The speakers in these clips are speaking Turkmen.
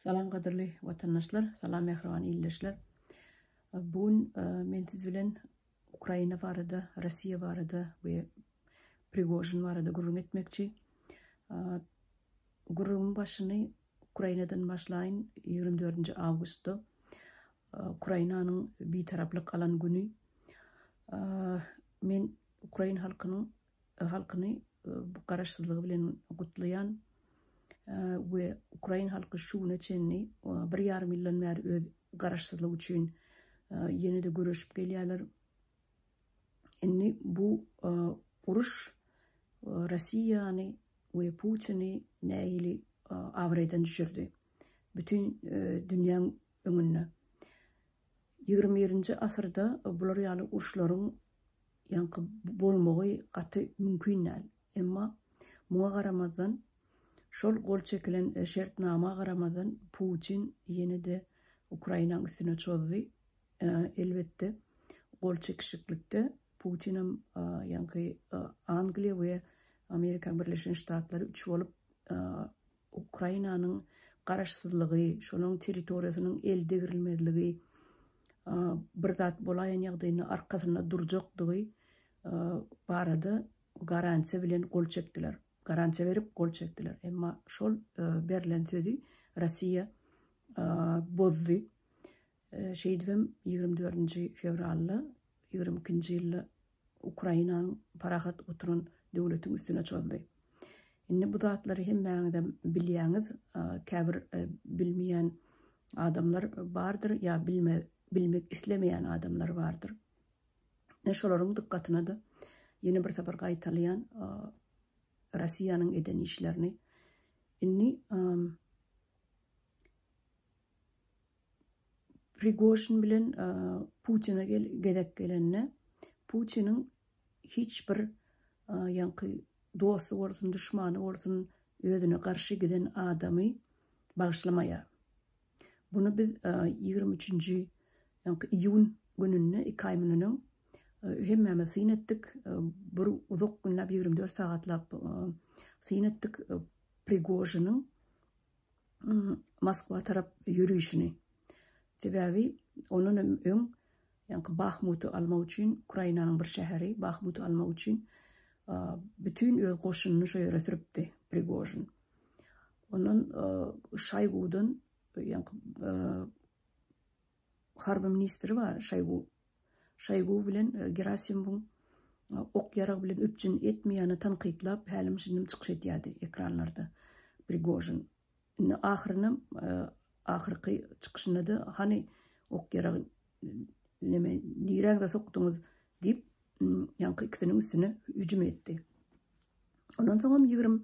Salam gadyrly watandaşlar, salam mähriban ildeşler. Bu gün e, men siz bilen Ukraina barada, Rossiýa barada we Prigožin barada gürrüň etmekçi. E, gürrüňiň başyny Ukrainadan başlaýyn. 24 awgustda e, Ukrainanyň bitaraplyk alan güni men ukrain halkynyň halkyny bu garaşsyzlygy bilen gutlaýan we ukrain halky şu güne çenli bir ýarym ýyldan bäri öz garaşsyzlygy üçin ýene-de göreşip gelýärler. Indi bu uruş Russiýany we Putini nähili abraýdan düşürdi? Bütin dünýäň öňünde. Ýigrimi birinji asyrda bular ýaly uruşlaryň ýaňky bolmagy gaty mümkin däl. Emma muňa garamazdan, şol gol çekilen şertnama garamazdan Putin ýene-de Ukrainaň üstüne çozdy. Elbetde, gol çekişiklikde Putinem ýaňky Angliýa we Amerikaň Birleşen Ştatlary üç bolup Ukrainanyň garaşsyzlygy, şonuň territoriýasynyň el degrilmezligi, bir zat bolaýan ýagdaýynda arkasynda durjakdygy barada garansiýa bilen gol çekdiler, garansiýa berip gol çekdiler. Emma şol berlen sözi Russiýa bozdy. Şeýdibem, ýigrimi dördünji fewralda ýigrimi ikinji ýylda Ukrainanyň parahat oturan döwletiň üstüne çozdy. Indi bu zatlary hemmäňizem bilýäňiz, käbir bilmeýän adamlar bardyr ýa bilmek islemeýän adamlar bardyr. Men şolaryň dykgatyna-da ýene bir sapar gaýtalaýan, Russiýanyň eden işlerini. Indi Prigožin bilen Putine gezek gelende, Putiniň hiç bir ýaňky dosty bolsun, duşmany bolsun, özüne garşy giden adamy bagyşlamaýar. Muny biz ýigrimi üçünji iýun gününde, iki aý mundan öň hemmämiz syn etdik. Bir uzak günläp, ýigrimi dört sagatlap syn etdik Prigožiniň Moskwa tarap ýörişini. Sebäbi ondan hem öň ýaňky Bahmuty almak üçin, Ukrainanyň bir şäheri Bahmuty almak üçin bütin öz goşunyny şo ýere sürüpdi Prigožin. Ondan Şaýgudan ýaňky harby ministri bar, Şaýgu Şoýgu bilen Gerasimowyň ok ýarag bilen üpjün etmeýäni tankytlap hälim-şindim çykyş edýärdi ekranlarda Prigožin. Indi ahyrynam ahyrky çykyşynda-da hany ok ýaragy neme niräňize sokduňyz diýip ýaňky ikisiniň üstüne hüjüm etdi. Ondan soňam ýigrimi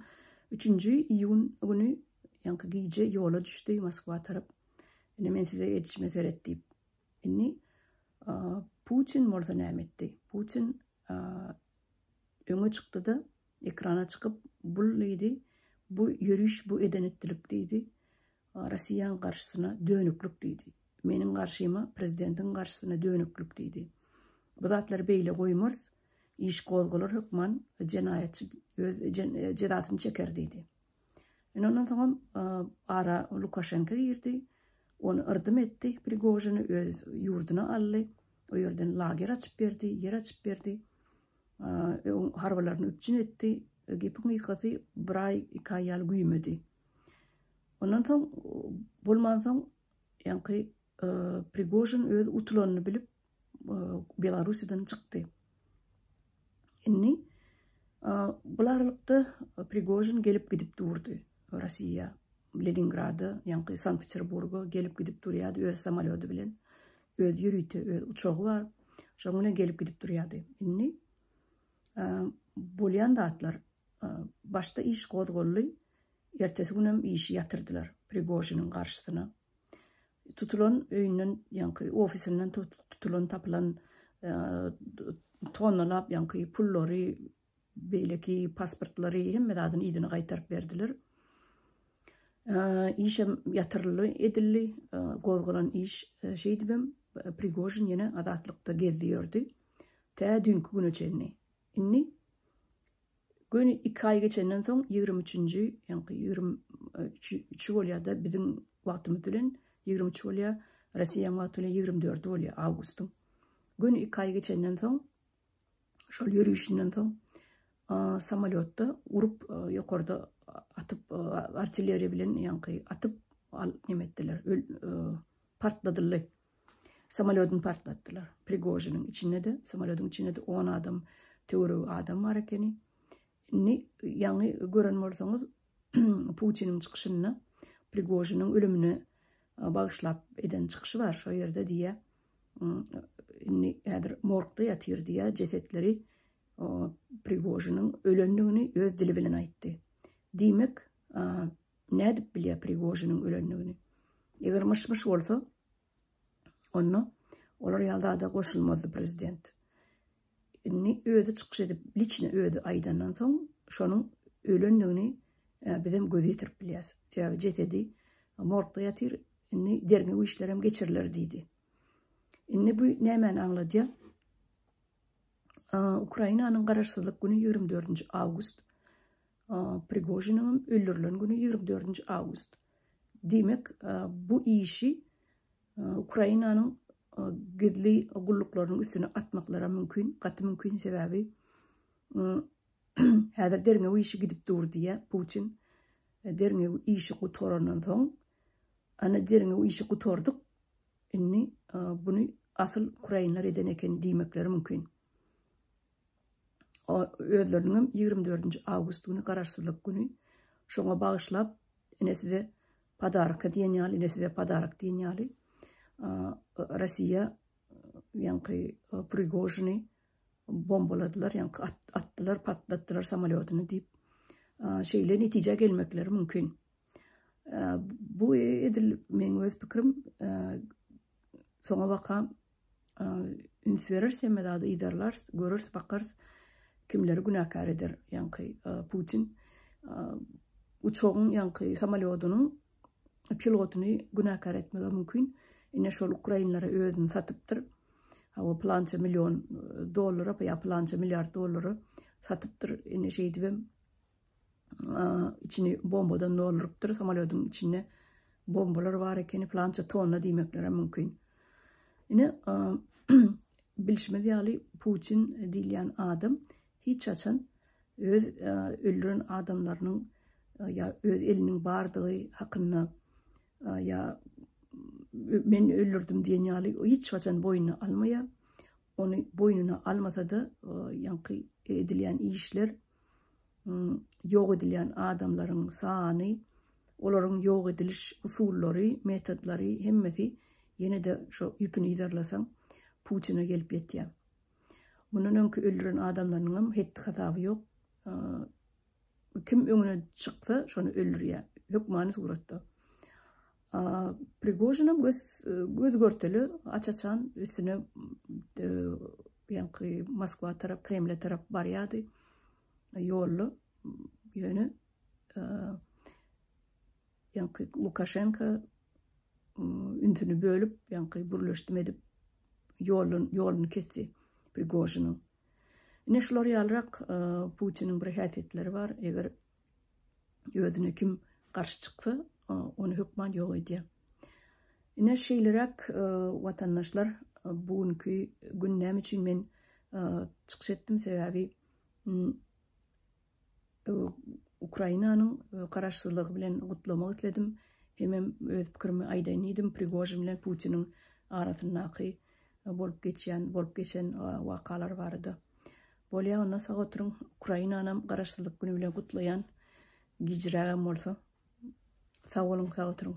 üçünji iýun güni ýaňky gije ýola düşdi Moskwa tarap. Indi men size edişime seret diýip. Indi Putin bolsa näme etdi? Putin öňe çykdy-da, ekrana çykyp, bu diýdi, bu ýöriş, bu eden-etdilik diýdi, Russiýanyň garşysyna dönüklik diýdi. Meniň garşyma, prezidentiň garşysyna dönüklik diýdi. Bu zatlary beýle goýmarys, iş gozgalar hökman jenaýatçy öz jezasyny çeker diýdi. Ine ondan soňam ara Lukaşenko girdi. Ony yrdım etdi, Prigožini öz ýurduna aldy. O ýerden lager açyp berdi, ýer açyp berdi. Harbylaryny üpjün etdi. Gepiň gysgasy bir aý, iki aý ýaly güýmedi. Ondan soň bolmansoň ýaňky Prigožin öz utulanyny bilip, Belarusiden çykdy. Inni bul aralykda Prigojin gelip gidip durdy Rossiýa. Leningrada, ýaňky Sankt-Peterburga gelip gidip durýardy öz samolýody bilen. Öz ýörite öz uçagy bar. Şoň bilen gelip gidip durýardy. Indi bolýan zatlar başda iş gozgaldy. Ertesi günem işi ýatyrdylar Prigojiniň garşysyna. Tutulan öýünden ýaňky ofisinden tutulan tapylan tonnalap ýaňky pullary, beýleki pasportlary hemme zadyny yzyna gaýtaryp berdiler. Işem ýatyryldy edildi. Gozgalan iş şeýdibem Prigožin ýene azatlykda gezdi ýördi. Tä düýnki güne çenli. Indi Göni iki aý geçenden soň ýigrimi üçünji, ýaňky ýigrimi üçi bolýar-da biziň wagtymyz bilen, ýigrimi üç bolýar, Rossiýanyň wagty bilen ýigrimi dördi bolýar awgustyň. Göni iki aý geçenden soň, şol ýörüşinden soň samolýotda urup, ýokarda atyp, artilleriýa bilen ýaňky atyp, neme etdiler, partladyldy. Samolýodyny partlatdylar. Prigožiniň içinde-de, samolýodyň içinde-de on adam, töweregi adam bar ekeni. Indi ýaňy gören bolsaňyz, Putiniň çykyşynda Prigožiniň ölümine e, bagyşlap eden çykyşy bar. Şo ýerde diýýär, indi häzir morgda ýatyr diýä jesetleri Prigožiniň ölendigini öz dili bilen aýtdy. Diýmek, nädip bilýär Prigožiniň ölendigini? Eger myş-myş bolsa, onda olar ýaly zada goşulmazdy prezident. Indi özi çykyş edip, liçni özi aýdandan soň, şonuň ölendigini e, biz hem göz ýetirip bilýäs. Sebäbi jesedi morgda ýatyr, indi derňew işleri hem geçiriler diýdi. Indi bu nämäni aňladýar? Ukrainanyň garaşsyzlyk güni 24-nji awgust Prigožiniňem öldürilen güni ýigrimi dördünji awgust. Diýmek, bu işi Ukrainanyň gizli gulluklarynyň üstüne atmaklaram mümkin, gaty mümkin, sebäbi häzir derňew işi gidip dur diýýär Putin. Derňew işi gutarandan soň, ana derňew işi gutardyk, indi buny asyl ukrainler eden eken diýmekleri mümkin. özleriniňem ýigrimi dördünji awgust güni Garaşsyzlyk güni, şoňa bagyşlap ine size podarka diýen ýaly, ine size podarak diýen ýaly Rossiýa ýaňky Prigožini bombaladylar, ýaňky atdylar, patlatdylar samolýotyny diýip, şeýle netijä gelmekleri mümkin. Bu edil meň öz pikirim, soňabaka üns berers, hemme zady yzarlars, görers, bakarys, kimleri günäkär eder, ýaňky Putin uçagyň, ýaňky samolýodynyň pilotyny günäkär etmegi mümkin. Ine şol ukrainlere özüni satypdyr. Hawa plança million dollara, ýa plança milliard dollara satypdyr. Ine şeýdibem içini bombadan doldurypdyr. Samolýodyň içinde bombalar bar ekeni, plança tonna diýmekleri mümkin. Ine, bilşimiz ýaly Putin diýilýän adam hiç haçan öz öldüren adamlarynyň ýa öz eliniň bardygy hakynda ýa men öldürdim diýen ýaly hiç haçan boýnuna almaýar. Ony boýnuna almasa-da, ýaňky edilýän işler ýok edilýän adamlaryň sany, olaryň ýok ediliş usullary, metodlary hemmesi ýene-de şo ýüpüni yzarlasaň Putina gelip ýetýär. Mundan öňki öldüren adamlarynyň hem hetdi-hasaby ýok. Kim öňüne çyksa, şony öldürýär. Hökmany suratda. Prigožinem göz göz görteli aç-açan üstüne e, ýaňky Moskwa tarap, Kremle tarap barýardy. Ýolda ýöne e, ýaňky Lukaşenko ünsüni bölüp, ýaňky bürleşdim edip ýolun ýoluny kesdi Prigožiniň. Ine şular ýalyrak e, Putiniň bir häsiýetleri bar. Eger Özüne kim garşy çyksa, ony hökman ýok edýär. Ine şeýleräk watandaşlar bu günki gün näme üçin men çykyş etdim sebäbi Ukrainanyň garaşsyzlygy bilen gutlamak isledim. Hemem öz pikirimi aýdaýyn diýdim Prigožin bilen Putiniň arasyndaky bolup geçýän, bolup geçen wakalar barada. Bolýa onda sag oturyň Ukrainanam garaşsyzlyk güni bilen gutlaýan gijrägem bolsa sag boluň sag oturyň.